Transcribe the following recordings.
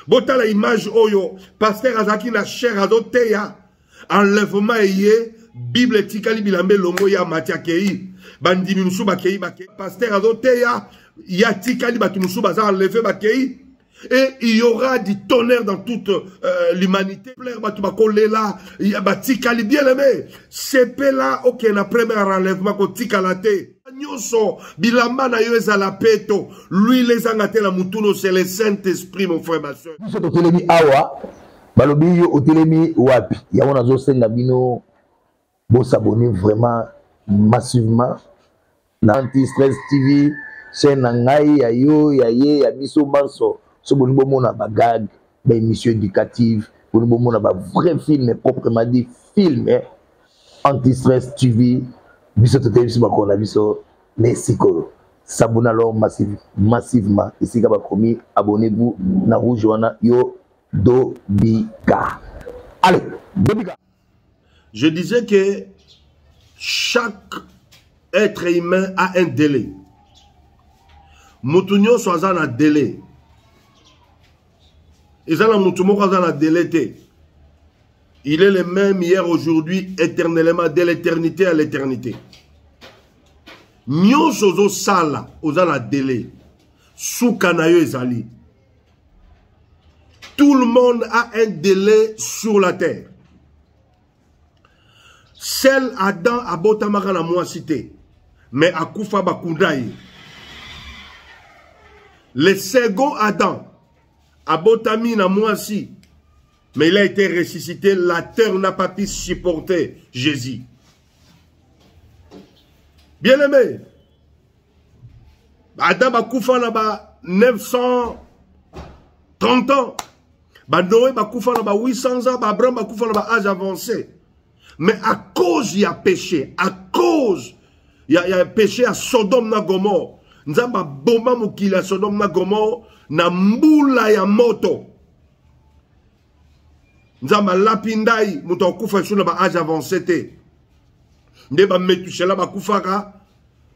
botala image oyo pasteur azalaki na chair azoteya enlèvement eye bible etikali bilamba elongo ya mati akei bandimi mosusu bakei bakei pasteur azoteya ye atikali bato mosusu baza enleve bakei et il y aura du tonnerre dans toute euh, l'humanité plaire bato bakolela batikali bien aimé sepela okende na premier enlèvement kotikala te nyonso bilamba na yo ezala peto luile ezanga te na motuno c'est le saint esprit mon frère ma soeur biso totelemi awa balobi yo otelemi wapi yango nazosenga bino bosabone vraiment massivement na anti stress tv chaîne na ngai ya yo ya ye ya biso banso so bolingi bomona bagage ba émission éducative boni bomona ba vrai film proprement dit film eh? anti-stress tv biso toteyi biso bakolo na biso nde sikoyo sabona alors massive, massivement esika bakomi abonnez-vous na rouge wana yo dobika allez dobika Je disais que chaque être humain a un délai. Mutu nyonso aza na délai. Eza na mutu moko aza na délai te. Il est le même hier, aujourd'hui, éternellement, de l'éternité à l'éternité. Nyonso ozo sala, oza na délai. Suka na yo ezali. Tout le monde a un délai sur la terre. Seul Adam a botamaka na mwasi te, mais akufa bakunda ye. Le second Adam abotami na mwasi, mais il a été ressuscité, la terre n'a pas pu supporter Jésus. Bien-aimé, ata bakufa na ba 930 ans banoe bakufa na ba 800 ans baabraham bakufa na ba age avancé mais à cause ya péché à cause ya, ya péché ya sodome na gomore nzambe aboma mokili ya sodome na gomore na mbula ya moto nzambe alapi ndai moto akufa lisusu na ba age avancé te nde bametushela bakufaka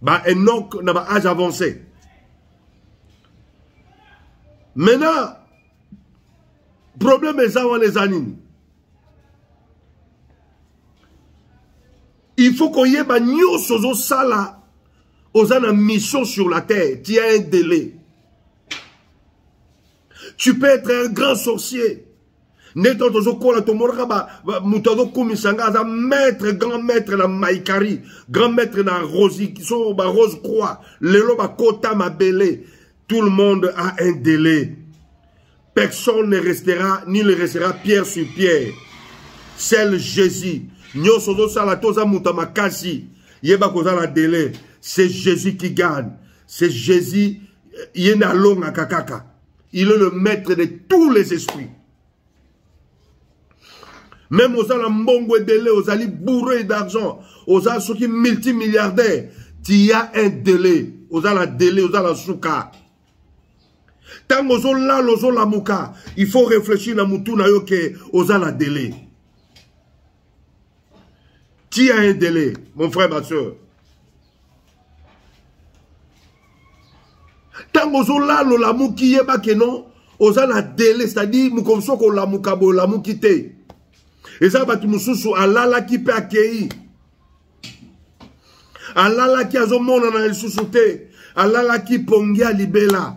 ba enok na ba age avancé maintenant problème eza wana eza nini il faut koyeba nyonso ozosala oza na mission sur la terre tia un délai tu peux être un grand sorcier nde to tozokola tomonaka moto azokumisa ngai aza maître grand maître na maikari grand maître na rosi so barose croix lelo bakota mabele tout le monde a un délai personne ne restera ni ne restera pierre sur pierre seul jésus nyonso ozosala to oza moto ya makasi yeba koza na délai c'est jésus qui gagne c'est jésus ye nde alongaka kaka il est le maître de tous les esprits même oza na mbongo ebele ozali bourre d'argent oza soki multimilliardaire tia un délai oza na délai oza na suka ntango ozolala ozolamuka il faut réfléchir na motu na yo ke oza na délai Qui a un délai, mon frère, ma soeur ntango ozolala olamuki yeba ke non oza na dele c'est-à-dire mokomi soki olamuka boye olamuki te eza bato mosusu alalaki mpe akei alalaki azomonana lisusu te alalaki pongi ya libela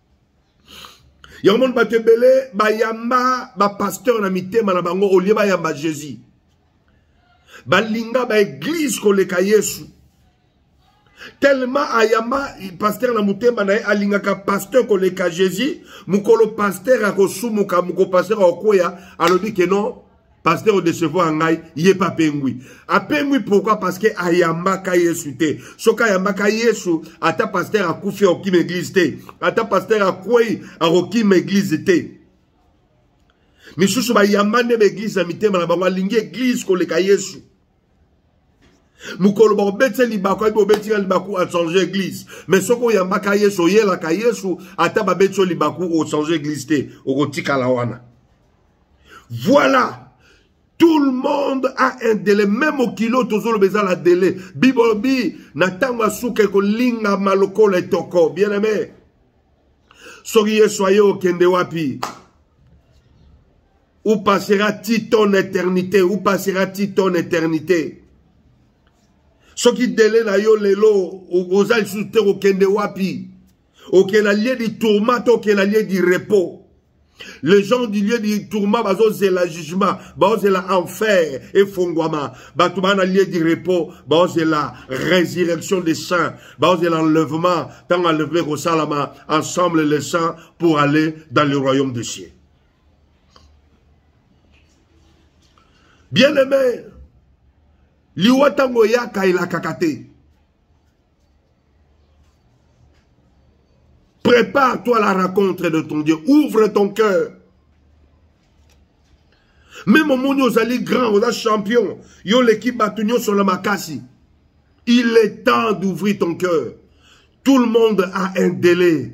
yango moni bato ebele bayamba bapasteur na mitema na bango olie bayamba jésus balinga baeglize koleka yesu tellement ayamba pasteur na motema na ye alingaka pasteur koleka jésus mokolo pasteur akosumuka mokolo pasteur akokweya alobi ke non pasteur odecevoir ngai ye mpe apengwi apengwi pourkui parce que ayambaka yesu te soki ayambaka yesu ata pasteur akufi akokima eglize te ata pasteur akwei akokima eglize te misusu bayamba nde baeglize na mitema na bango alingi eglize koleka yesu mokolo bakobetisa libaku ayebi obeti ya libaku achange eglise mais soki oyambaka yesu oyelaka yesu ata babeti yo libaku ochange eglise te okotikala wana voilà tout le monde a un délai même mokili oyo tozoloba eza na délai bibolobi na ntango ya suka ekolingama lokola etoko bien aime soki yesu aye okende wapi Où passera-t-il ton éternité Où passera-t-il ton éternité soki dele na yo lelo oza lisusu te kokende wapi okela lie di tourma to okela lie di repos les gens du lieu du tourment bazozela jugement bazozela enfer efongwama bato baa na lieu du repos bazozela résurrection des saints bazozela enlèvement ntango enlèvement ekosalama ensemble les saints pour aller dans le royaume de cieux bien aimé liwa ntango eyaka elakaka te prépare-toi la rencontre de ton dieu ouvre ton cœur meme omoni ozali grand oza champion yo oleki bato nyonso na makasi il est temps d'ouvrir ton cœur tout le monde a un délai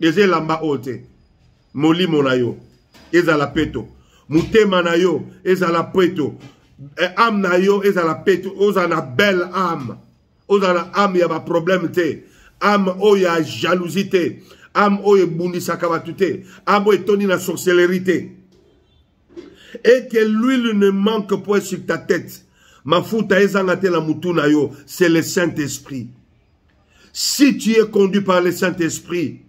eza elamba oyo te molimo na yo ezala peto motema na yo ezala peto eh, ame na yo ezala peto ozala na belle ame ozala na ame ya baproblème te ame oyo ya jalousie te ame oyo ebundisaka bato te ame oyo etondi na sorcellerie te et que l'huile ne manque point sur ta tête mafuta ezanga te na motu na yo c'est le saint esprit si tu es conduit par le saint esprit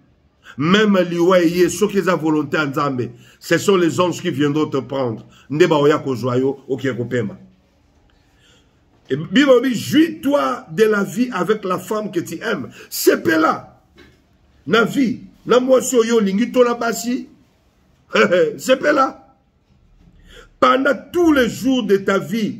meme liwa eye soki eza volonté ya nzambe ce sont les anges qui viendront te prendre nde baoya kozwa yo okee kopema bible obi jouis toi de la vie avec la femme que tu aimes sepela na vie na mwasi oyo olingi to na basi sepela pendant tous les jours de ta vie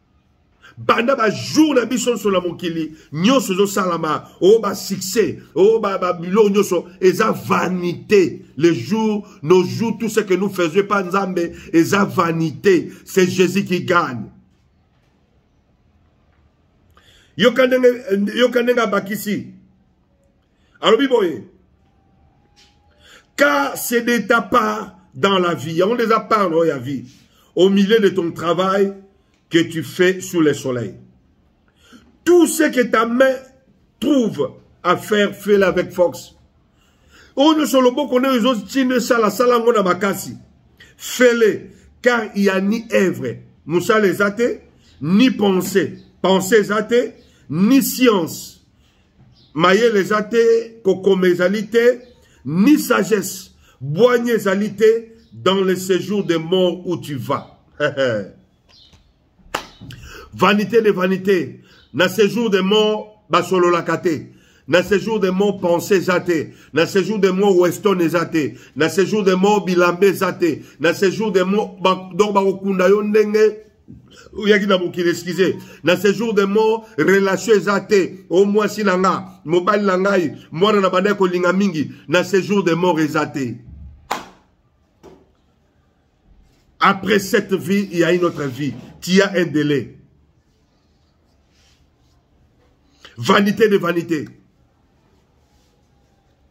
banda bajour na biso nyonso na mokili nyonso ezosalama o oh, basuccès o oh, babiloko nyonso eza vanité le jour nos jours tout ce que nous faisons pa nzambe eza vanité c'est jésus qui gagne yoka ndenge abakisi alobi boye car c'est de ta part dans la vie yango nde eza part na oyo ya vie au milieu de ton travail que tu fais sous le soleil tout ce que ta main trouve à faire fais-le avec force oyo nyonso loboko nayo ezotinda esala sala yango na makasi fele car il y a ni œuvre mosala eza te ni pensée pensée eza te ni science mayele eza te kokoma ezali te ni sagesse bwanya ezali te dans le séjour de mort où tu vas vanité de vanité na séjour de mort basololaka te na séjour de mort pensée eza te na séjour de mort weston eza te na séjour de mort bilambe eza te na séjour de mort donc bakokunda yo ndenge oyaki na mokili excuse na séjour de mort relation eza te o mwasi na nga mobali na ngai mwana na bandaki kolinga mingi na séjour de mort eza te après cette vie il y a une autre vie tu as un délai vanité de vanité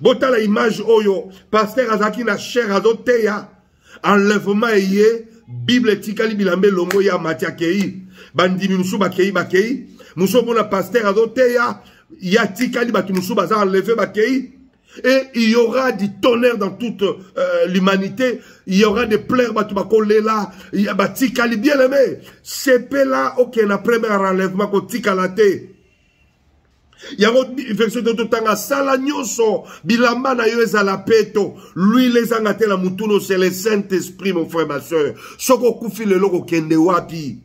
botala image oyo pasteur azalaki na chair azoteya enlèvement eye bible etikali bilamba elongo ya mati akei bandimi mosusu bakei bakei mosusu omona pasteur azoteya ya tikali bato mosusu baza enleve bakei et il y aura du tonnerre dans toute euh, l'humanité il y aura des pleurs bato bakolela batikali bien aimé sepela okende okay, na premier enlèvement kotikala te yango version to totanga sala nyonso bilamba na yo ezala peto luile ezanga te na motuno c'est le saint esprit mon frère ma soeur soki okufi lelo kokende wapi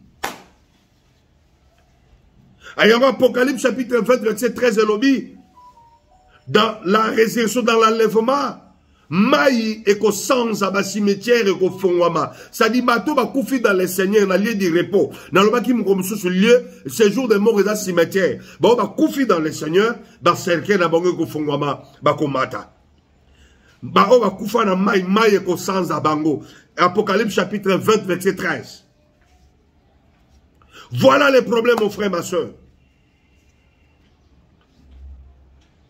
ayango apocalypse chapitre 20 verset 13 elobi dans la résurrection dans l'enlèvement mai ekosanza basimetiere ekofongwama sadi bato bakufi dans le seigneur na lieu du repos nalobaki mokolo mosusu lieu séjour de mort eza cimetière baoyo bakufi dans le seigneur bacercueil na bango ekofongwama bakomata baoyo bakufa na mai mai ekosanza bango apocalypse chapitre 20 verset 13 voilà le problème mon frère ma soeur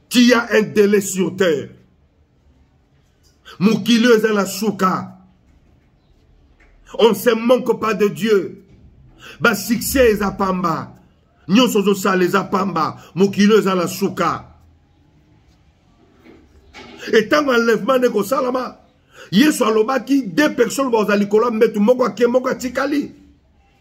qui a un délai sur terre mokili oyo eza na suka on se manque pas de dieu basuccès eza pamba nyonso ozosala eza pamba mokili oyo eza na suka etango enlèvement nde kosalama yesu alobaki de personne baoza likolo ya mbetu moko ake moko atikali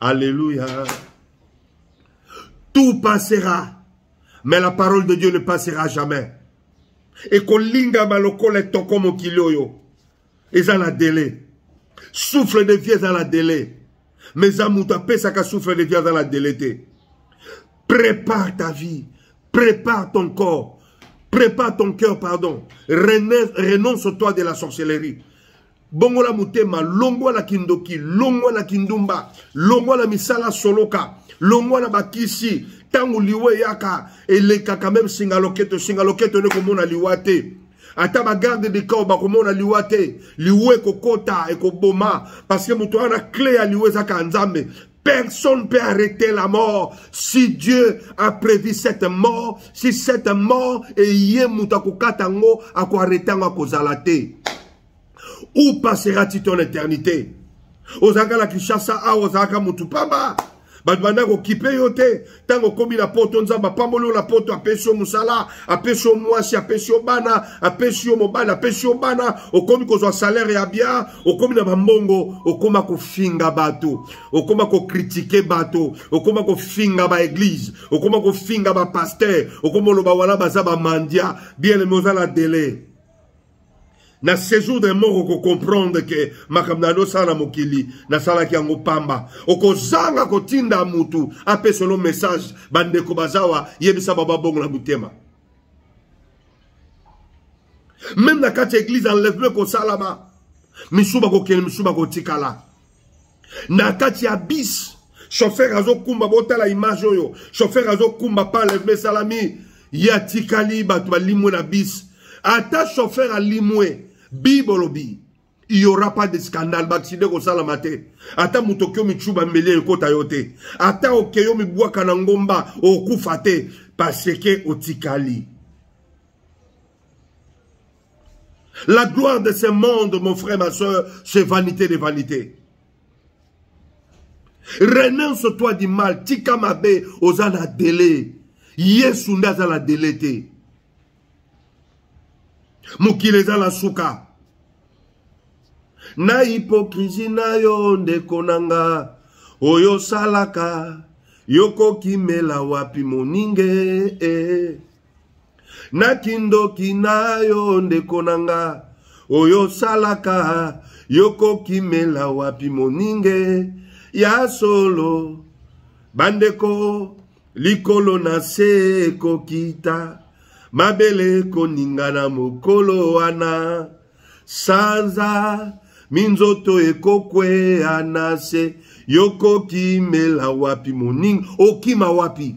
Alléluia. Tout passera. Mais la parole de Dieu ne passera jamais. Et qu'on linga malokole toko mokili oyo. Eza na délai. Souffle de vie eza na délai. Mais eza moto apesaka souffle de vie eza na délai te. Prépare ta vie. Prépare ton corps. Prépare ton cœur, pardon. Renonce-toi de la sorcellerie. bongola motema longwa na kindoki longwa na kindumba longwa na misala soloka longwa na bakisi ntango liwa eyaka elekaka meme singa loketo singa loketo nde komona liwa te ata bagarde de camp bakomona liwa te liwa ekokota ekoboma parce que moto wana cle ya liwa ezaka nzambe Personne ne peut arrêter la mort. Si Dieu a prévu cette mort, si cette mort est yé mutakukatango, à quoi arrêter à kozalate. Où passeras-tu ton éternité ozalaka na kinshasa awa ozalaka motu pamba bato banda kokipe yo te ntango okomi na poto nzambe apamboli yo na poto apesi yo mosala apesi yo mwasi apesi yo bana apesi yo mobali apesi yo bana okomi kozwa salaire ya bia okomi na bambongo okoma kofinga bato okoma kokritike bato okoma kofinga baeglize okoma kofinga bapaster okoma oloba wana baza bamandia bien eme oza na delai na séjour de mort okocomprendre ke makambo na yando osala na mokili nasalaki yango pamba okozanga kotinda motu apesa olo message bandeko bazawa yebisa baba bongo na motema meme na kati ya eglize enlèvement ekosalama misu bakokende misu bakotikala na kati ya bis chauffeur azokumba botala image oyo chauffeur azokumba pa enlèvement esalami ye atikali bato balimwe na bis ata chauffeur alimwe bi bolobi il y aura pas de scandale baaccident ekosalama te ata moto oke omicuba mbeli ekota yo te ata okei omibwaka na ngomba okufa te parce que otikali La gloire de ce monde, mon frère, ma soeur, c'est vanité des vanités. Renonce-toi du mal, tika mabe, oza na délai. Yesu nda aza na délai te. Mokili eza na suka. Na hypocrisie na yo ndeko na nga, oyo osalaka, yokokimela wapi moninge eh. na kindoki na yo ndeko na nga oyo osalaka yokokimela wapi moninge ya solo bandeko likolo na se ekokita mabele koningana mokolo wana sanza minzoto ekokwea na se yokokimela wapi moninga okima wapi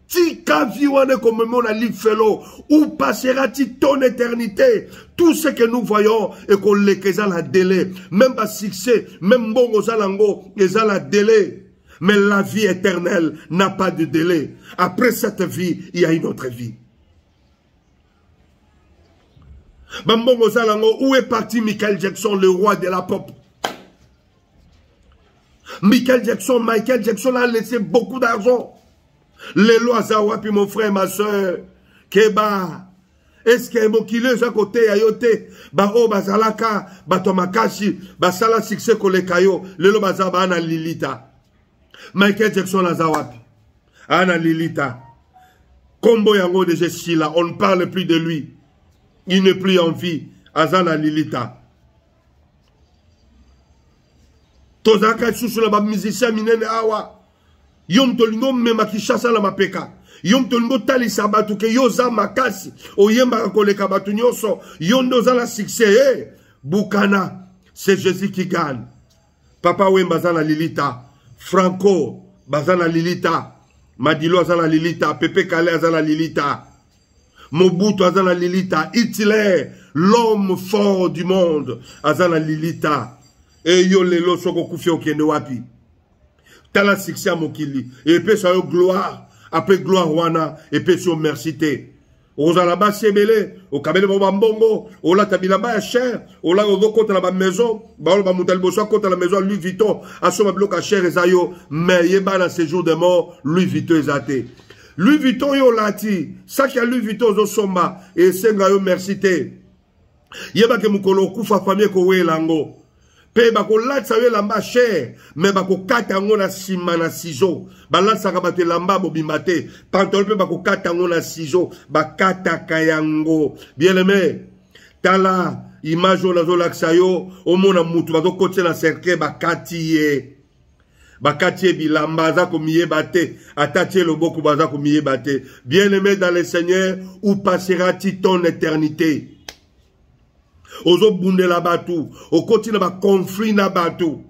tika vie wana ekomemona lifelo ou passera ti ton éternité tout ce que nous voyons ekoleka eza na délai même basuccès même mbongo oza nango eza na délai mais la vie éternelle n'a pas de délai après cette vie il y a une autre vie bambongo oza nango où est parti michael jackson le roi de la pop michael jackson michael jackson a laissé beaucoup d'argent lelo aza wapi mon frère ma soeur keba eske mokili eza koteya yo te baoyo bazalaka bato ya makasi basala succès koleka yo lelo baza bana lilita Michael Jackson aza wapi Ana Lilita Combo yango déjà Sila on ne parle plus de lui il n'est plus en vie aza na Lilita tozalaka lisusu na bamusicien minene awa yo moto olingi omema kinshasa na mapeka yo moto olingi otalisa bato ke yo oza makasi oyembaka koleka bato nyonso yo nde oza na succès e eh, bukana c'est jésus qui gagne papa wemba aza na lilita franco baza na lilita madilo aza na lilita pepe kale aza na lilita mobutu aza na lilita hitler l'homme fort du monde aza na lilita eyo lelo soki okufi okende wapi tala succès ya mokili epesa yo gloire ape gloire wana epesi yo merci te okozala na basi ebele okabeli bango bambongo olata bilamba ya cher olaka ozokota na bamaison baoyo bamoto ya liboso akota na maison ya louis vuitton asomba biloko ya cher eza yo mais yeba na séjour de mort louis vuitton eza te louis vuitton yo olati saki ya louis vuitton ozosomba esenga yo merci te yebake mokolo okufa fami ekowela yango mpe bakolatisa yo elamba ya shere me bakokata yango na nsima na sizo balatisaka bato elamba bobima te pantolo mpe bakokata yango na sizo bakataka yango bieneme tala image oyo nazolakisa yo omona motu bazokotisela cercueil bakati ye bakati ye bilamba aza komiyeba te atati ye loboko baza komiyeba te bien aimé dans le seigneur ou passera ti ton éternité ozobundela bato okoti na baconflit na bato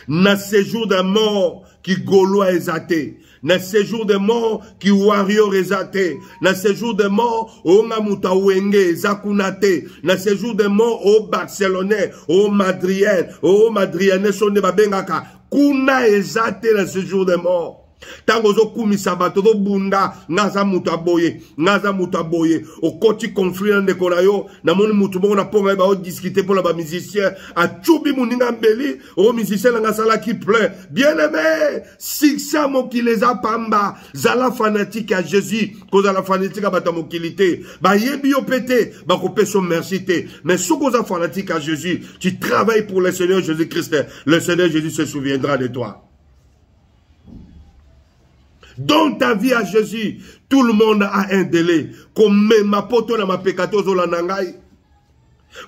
na séjour de mort kigoloa eza te na séjour de mort ki warrior eza te na séjour de mort onga moto awenge eza kuna te na séjour de mort o barcelonais o madrienne o madrienne so nde babengaka kuna eza te na séjour de mort ntango ozokumisa bato ozobunda nga aza moto ya boye nga aza moto ya boye okoti conflit na ndeko na yo namoni moto moko na mponga ye baodiskute mpo na bamusicien acubi moninga mbeli o musicien na nga asalaki plein bien aimé succès ya mokili eza pamba zala fanatique ya jésus kozala fanatique ya bato ya mokili te bayebi yo mpe te bakopesa yo merci te mais soki oza fanatique ya jésus tu travaille pour le seigneur jésus christ le seigneur jésus se souviendra de toi donne ta vie à jésus tout le monde a un délai komema poto na mapeka te ozolanda ngai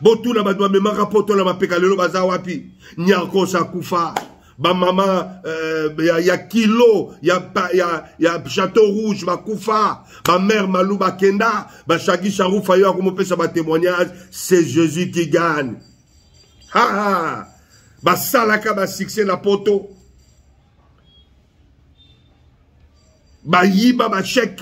botuna bato bamemaka poto na mapeka lelo baza wapi nyakosa kufa bamama euh, ya, ya kilo ya, ya, ya chateau rouge bakufa bamare malu bakenda bashaki sharufa yo akomopesa batémoignage c'est jésus qui gagne haa basalaka basuccès na poto bayiba bachèque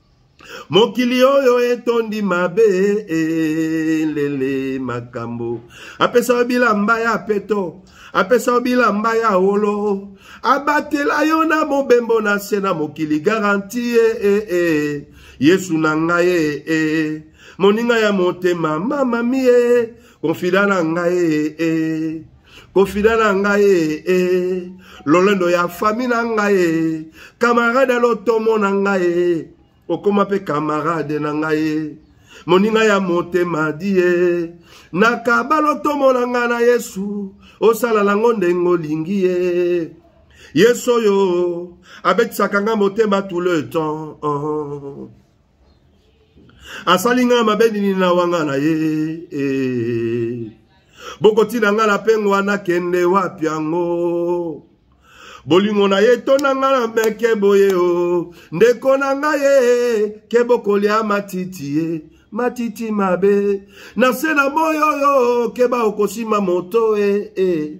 mokili oyo etondi mabe elele makambo apesa yo bilamba ya peto apesa yo bilamba ya wolo abatela yo na mobembo na se na mokili garanti e e e yesu na ngai e e moninga ya motema mamamie konfida na ngai e e kofida na ngai ee eh, eh. lolendo ya fami na ngai ee eh. kamarade lotomo na ngai ee okoma mpe kamarade na ngai ee moninga ya motema die nakaba lotomo na ngai na yesu osala nango ndenge olingi ye yesu oyo abetisaka ngai motema tout le temps oh. asali ngai mabe nini na wanga na ye eh. bokotina ngai na pengwa nakende wapi yango bolingo na ye tona ngai na meke boye o oh. ndeko na ngai ye ke bokolia matiti ye eh. matiti mabe na se na moyo oyo oh, keba okosima moto e eh, e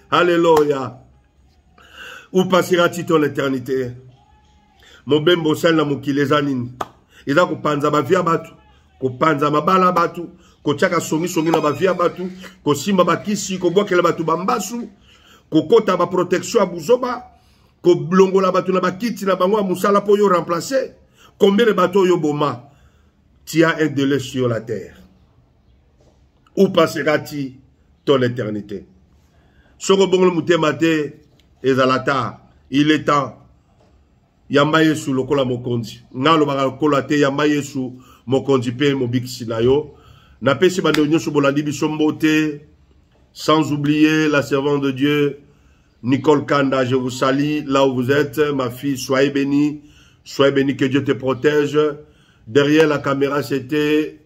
Alléluia. Où passera-t-il ton éternité? Mobembo osali na mokili eza nini? Eza kopanza bavi ya bato, kopanza mabala ya bato, kotyaka songisongi na bavi ya bato, kosimba bakisi, kobwakela bato bambasu, kokota baprotection ya buzoba, kolongola bato na bakiti na bango ya mosala mpo yo remplace. Combien de bato oyo boma? Tu as un délai sur la terre. où passera-t-il dans l'éternité soki obongoli motema te ezala ta il est temps yamba yesu lokola mokonzi ngai alobaka lokola te yamba yesu mokonzi mpe mobikisi na yo napesi bandeko nyonso bolandi biso mbote sans oublier la servante de dieu nicole kanda je vous salie là où vous êtes ma fille soyez bénie soyez bénie que dieu te protège derrière la caméra c'était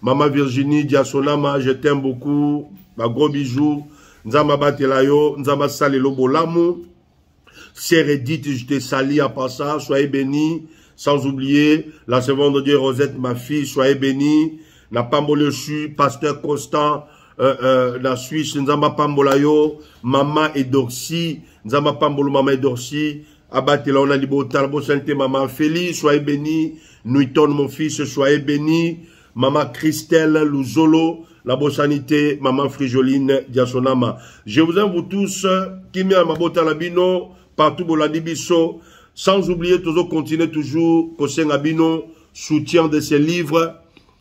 Mama Virginie Diasonama, je t'aime beaucoup. Ba gros bisous. Nzamba batela yo, Nzamba salelo bolamu. Sœur Edith, je te salue à part ça, soyez bénis. Sans oublier la servante de Dieu Rosette, ma fille, soyez bénis. Na pambole suis pasteur Constant euh, euh, na Suisse, Nzamba pambola yo, maman Edorsi, Nzamba pambolo maman Edorsi, abatela yo na libota bosani te mama feli soye beni nuiton mon fils soye beni mama christelle luzolo na bosani te mama frijoline diasonama je vous aime vous tous kimia ya mabota na bino partout bolandi biso sans oublier tozo continuer toujours kosenga bino soutien de ces livres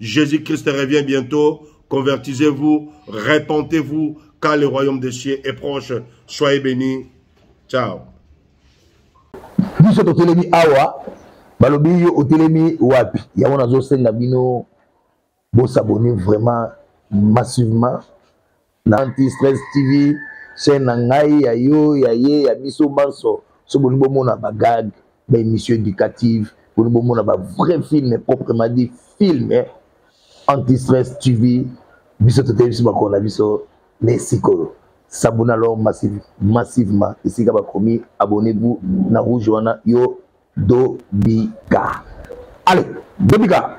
Jésus Christ revient bientôt. Convertisez-vous, repentez-vous, car le royaume des cieux est proche. Soyez bénis. Ciao. biso totelemi awa balobi yo otelemi wapi yango nazosenga bino bosabone vraiment massivement na anti stress tv chaîne na ngai ya yo ya ye ya biso banso so boni bomona bagag ba émission éducative boni bomona ba vrai film proprement dit film eh? anti stress tv biso toteyi biso makolo na biso ne sikoyo sabona alors massive, massivement esika bakomi abonnez-vous na rouge wana yo dobika allez dobika